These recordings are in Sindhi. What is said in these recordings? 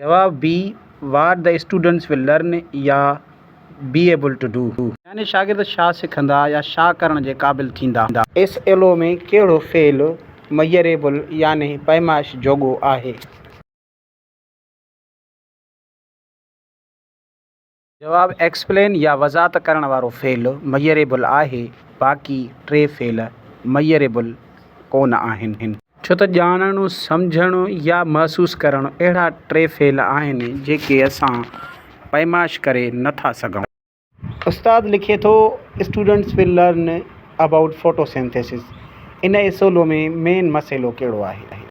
جواب be what the students will learn يا بي ايبل ٽو ڊو. يعني شاگرد شا سکندا يا شا ڪرڻ جي قابل ٿيندا. ايس ايل او ۾ ڪهڙو فعل ميئريبل يعني پيمائش جوڳو آهي؟ جواب، ايڪسپلين يا وضاحت ڪرڻ وارو فعل ميئريبل آهي، باقي ٽي فعل ميئريبل ڪونه آهن. ڇو ته ڄاڻڻ، سمجهڻ يا محسوس ڪرڻ اهڙا ٽي فعل آهن، جيڪي اسان پيمائش ڪري نه ٿا سگهون. استاد لکي ٿو، students will learn about photosynthesis ان اصولو ۾ مين مسئلو ڪهڙو آهي؟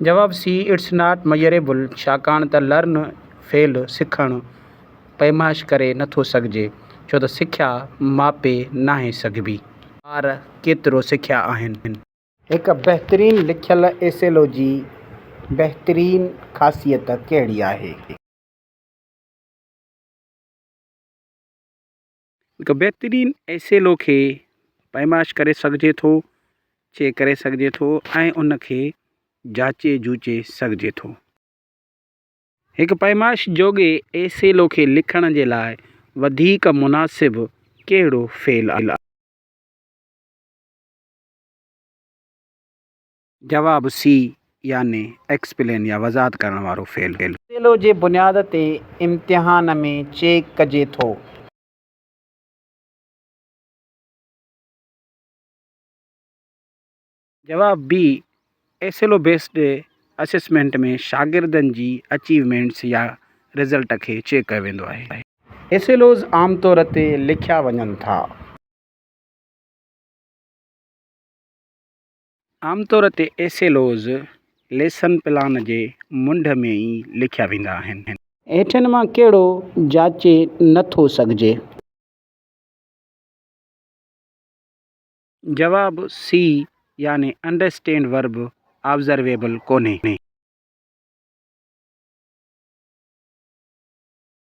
جواب، سي اٽس ناٽ ميئريبل ڇاڪاڻ ته لرن، فعل، سکڻ، پيمائش ڪري نه ٿو سگهجي ڇو ته سکيا ماپي ناهي سگهبي. ٻار ڪيترو سکيا آهن؟ هڪ بهترين لکيل ايسيلو جي بهترين خاصيت ڪهڙي آهي؟ هڪ بهترين ايسيلو کي پيمائش ڪري سگهجي ٿو، چيڪ ڪري سگهجي ٿو ۽ ان کي جاچي جوچي سگهجي ٿو. هڪ پيمائش جوڳي ايسيلو کي لکڻ جي لاء وڌيڪ مناسب ڪهڙو فعل آهي؟ جواب، سي يعني ايڪسپلين يا وضاحت ڪرڻ وارو فعل. سيلو جي بنياد تي امتحان ۾ چيڪ ڪجي ٿو. جواب، بي ايسيلو بيسڊ اسيسمينٽ ۾ شاگردن جي اچيومينٽس يا رزلٽ کي چيڪ ڪيو ويندو آهي. ايسيلوز عام طور تي لکيا وڃن ٿا. عام طور تي S L O's lesson plan جي منڍ ۾ ئي لکيا ويندا آهن. هيٺين مان ڪهڙو جاچي نه ٿو سگهجي؟ جواب، سي يعني انڊرسٽينڊ ورب آبزرويبل ڪونهي.